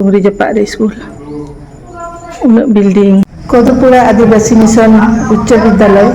ᱩᱨᱤ ᱡᱟᱯᱟᱜ ᱨᱮ ᱥᱠᱩᱞ ᱩᱱᱟᱹᱜ ᱵᱤᱞᱰᱤᱝ ᱠᱚᱫᱩᱯᱩᱨᱟ ᱟᱹᱫᱤᱵᱟᱹᱥᱤ ᱢᱤᱥᱚᱱ ᱩᱪᱪᱚ ᱵᱤᱫᱽᱫᱟᱞᱚᱭ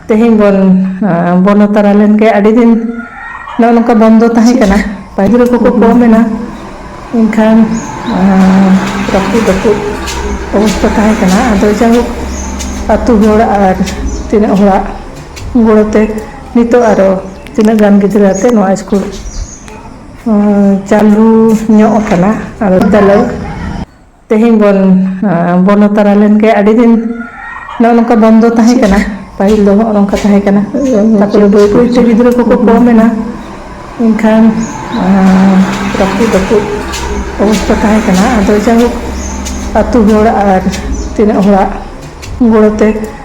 ᱛᱮᱦᱮᱧ ᱵᱚᱱ ᱵᱚᱱᱚ ᱛᱟᱨᱟ ᱞᱮᱱ ᱜᱮ ᱟᱹᱰᱤ ᱫᱤᱱ ᱱᱚᱜᱼᱚ ᱱᱚᱝᱠᱟ ᱵᱚᱱᱫᱚ ᱛᱟᱦᱮᱸ ᱠᱟᱱᱟ ᱯᱟᱹᱦᱤᱞ ᱠᱚᱠᱚ ᱠᱚᱢ ᱮᱱᱟ ᱮᱱᱠᱷᱟᱱ ᱨᱟᱹᱯᱩᱫ ᱨᱟᱹᱯᱩᱫ ᱚᱵᱚᱥᱛᱟ ᱛᱟᱦᱮᱸ ᱠᱟᱱᱟ ᱟᱫᱚ ᱡᱟᱭᱦᱳᱠ ᱟᱛᱳ ᱦᱚᱲ ᱟᱨ ᱛᱤᱱᱟᱹᱜ ᱦᱚᱲᱟᱜ ᱜᱚᱲᱚ ᱛᱮ ᱱᱤᱛᱚᱜ ᱟᱨᱚ ᱛᱤᱱᱟᱹᱜ ᱜᱟᱱ ᱜᱤᱫᱽᱨᱟᱹ ᱟᱛᱮ ᱱᱚᱣᱟ ᱥᱠᱩᱞ ᱪᱟᱹᱞᱩ ᱧᱚᱜ ᱟᱠᱟᱱᱟ ᱟᱨ ᱵᱤᱫᱽᱫᱟᱞᱚᱭ ᱛᱮᱦᱮᱧ ᱵᱚᱱ ᱵᱚᱞᱚ ᱛᱟᱨᱟ ᱞᱮᱱ ᱜᱮ ᱟᱹᱰᱤ ᱫᱤᱱ ᱱᱚᱜᱼᱚ ᱱᱚᱝᱠᱟ ᱵᱚᱱᱫᱚ ᱛᱟᱦᱮᱸ ᱠᱟᱱᱟ ᱯᱟᱹᱦᱤᱞ ᱫᱚ ᱱᱚᱜᱼᱚ ᱱᱚᱝᱠᱟ ᱛᱟᱦᱮᱸ ᱠᱟᱱᱟ ᱛᱟᱨᱯᱚᱨᱮ ᱵᱟᱹᱭ ᱵᱟᱹᱭ ᱛᱮ ᱜᱤᱫᱽᱨᱟᱹ ᱠᱚᱠᱚ ᱠᱚᱢ ᱮᱱᱟ ᱮᱱᱠᱷᱟᱱ ᱨᱟᱹᱯᱩᱫ ᱨᱟᱹᱯᱩᱫ ᱚᱵᱚᱥᱛᱟ ᱛᱟᱦᱮᱸ ᱠᱟᱱᱟ ᱟᱫᱚ ᱡᱟᱭᱦᱳᱠ ᱟᱹᱛᱩ ᱦᱚᱲ ᱟᱨ ᱛᱤᱱᱟᱹᱜ ᱦᱚᱲᱟᱜ ᱜᱚᱲᱚ ᱛᱮ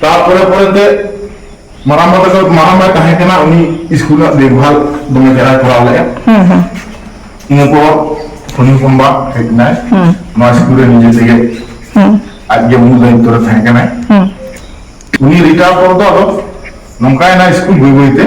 ᱛᱟᱨᱯᱚᱨᱮ ᱯᱚᱨᱮᱛᱮ ᱢᱟᱨᱟᱝ ᱵᱟ ᱛᱟᱠᱚ ᱢᱟᱨᱟᱝ ᱵᱟᱭ ᱛᱟᱦᱮᱸ ᱠᱟᱱᱟ ᱩᱱᱤ ᱥᱠᱩᱞ ᱨᱮᱱᱟᱜ ᱫᱮᱠᱵᱷᱟᱞ ᱫᱚᱢᱮ ᱪᱮᱦᱨᱟᱭ ᱠᱚᱨᱟᱣ ᱞᱮᱫᱼᱟ ᱤᱱᱟᱹ ᱯᱚᱨ ᱩᱱᱤ ᱦᱚᱯᱚᱱ ᱵᱟ ᱦᱮᱡ ᱮᱱᱟᱭ ᱱᱚᱣᱟ ᱥᱠᱩᱞ ᱨᱮ ᱱᱤᱡᱮ ᱛᱮᱜᱮ ᱟᱡᱜᱮ ᱢᱩᱞ ᱫᱟᱭᱤᱛᱛᱚ ᱨᱮ ᱛᱟᱦᱮᱸ ᱠᱟᱱᱟᱭ ᱩᱱᱤ ᱨᱤᱴᱟᱭᱟᱨ ᱯᱚᱨ ᱫᱚ ᱟᱫᱚ ᱱᱚᱝᱠᱟᱭᱮᱱᱟ ᱥᱠᱩᱞ ᱵᱟᱹᱭ ᱵᱟᱹᱭᱛᱮ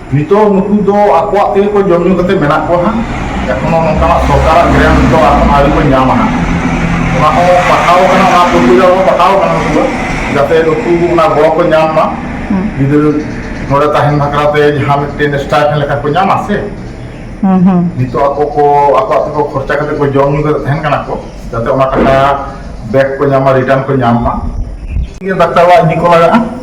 ᱱᱤᱛᱚᱜ ᱱᱩᱠᱩ ᱫᱚ ᱟᱠᱚᱣᱟᱜ ᱛᱮᱜᱮ ᱠᱚ ᱡᱚᱢ ᱧᱩ ᱠᱟᱛᱮ ᱢᱮᱱᱟᱜ ᱠᱚᱣᱟ ᱦᱟᱸᱜ ᱮᱠᱷᱚᱱᱚ ᱱᱚᱝᱠᱟᱱᱟᱜ ᱥᱚᱨᱠᱟᱨᱟᱜ ᱜᱨᱮᱱᱴ ᱫᱚ ᱟᱹᱣᱨᱤ ᱠᱚ ᱧᱟᱢᱟ ᱦᱟᱸᱜ ᱚᱱᱟ ᱦᱚᱸ ᱯᱟᱴᱷᱟᱣ ᱠᱟᱱᱟ ᱚᱱᱟ ᱯᱨᱚᱠᱨᱤᱭᱟ ᱦᱚᱸ ᱯᱟᱴᱷᱟᱣ ᱠᱟᱱᱟ ᱱᱩᱠᱩ ᱫᱚ ᱡᱟᱛᱮ ᱱᱩᱠᱩ ᱚᱱᱟ ᱜᱚᱲᱚ ᱠᱚ ᱧᱟᱢ ᱢᱟ ᱜᱤᱫᱽᱨᱟᱹ ᱱᱚᱰᱮ ᱛᱟᱦᱮᱱ ᱵᱟᱠᱷᱨᱟ ᱛᱮ ᱡᱟᱦᱟᱸ ᱢᱤᱫᱴᱮᱱ ᱥᱴᱟᱭᱯᱷᱮᱱ ᱞᱮᱠᱟ ᱠᱚ ᱧᱟᱢᱟ ᱥᱮ ᱱᱤᱛᱚᱜ ᱟᱠᱚ ᱠᱚ ᱟᱠᱚᱣᱟᱜ ᱛᱮᱠᱚ ᱠᱷᱚᱨᱪᱟ ᱠᱟᱛᱮ ᱠᱚ ᱡᱚᱢ ᱧᱩ ᱠᱟᱛᱮ ᱛᱟᱦᱮᱱ ᱠᱟᱱᱟ ᱠᱚ ᱡᱟᱛᱮ ᱚᱱᱟ ᱴᱟᱠᱟ ᱵᱮᱠ ᱠᱚ ᱧᱟᱢᱟ ᱨᱤᱴᱟᱨᱱ ᱠᱚ ᱧᱟᱢ ᱢᱟ ᱰᱟᱠᱛᱟᱨ ᱚᱲᱟᱜ ᱤᱫᱤ ᱠᱚ ᱞᱟᱜᱟᱜᱼᱟ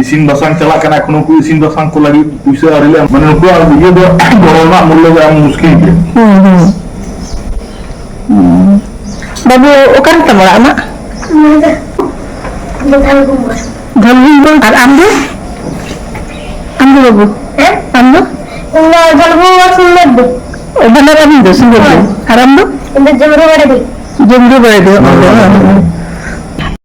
ᱤᱥᱤᱱ ᱵᱟᱥᱟᱝ ᱪᱟᱞᱟᱜ ᱠᱟᱱᱟ ᱮᱠᱷᱚᱱ ᱩᱱᱠᱩ ᱤᱥᱤᱱ ᱵᱟᱥᱟᱝ ᱠᱚ ᱞᱟᱹᱜᱤᱫ ᱯᱩᱭᱥᱟᱹ ᱟᱹᱣᱨᱤ ᱞᱮ ᱮᱢ ᱢᱟᱱᱮ ᱱᱩᱠᱩᱣᱟᱜ ᱤᱭᱟᱹ ᱫᱚ ᱜᱚᱲᱚ ᱨᱮᱱᱟᱜ ᱢᱩᱞᱞᱚ ᱫᱚ ᱮᱢ ᱢᱩᱥᱠᱤᱞ ᱜᱮᱭᱟ ᱵᱟᱹᱵᱩ ᱚᱠᱟᱨᱮ ᱛᱟᱢ ᱚᱲᱟᱜ ᱟᱢᱟᱜ ᱫᱷᱚᱞᱵᱷᱩᱢ ᱵᱚᱞ ᱟᱨ ᱟᱢ ᱫᱚ ᱟᱢ ᱫᱚ ᱵᱟᱹᱵᱩ ᱟᱢ ᱫᱚ ᱚ, ᱵᱟᱱᱟᱨ ᱟᱹᱵᱤᱱ ᱫᱚ ᱥᱤᱝᱜᱚᱞ ᱫᱚ ᱟᱨ ᱟᱢ ᱫᱚ ᱡᱚᱢᱨᱩ ᱵᱟᱲᱮ ᱫᱚ ᱚ, ᱚ, ᱚ᱾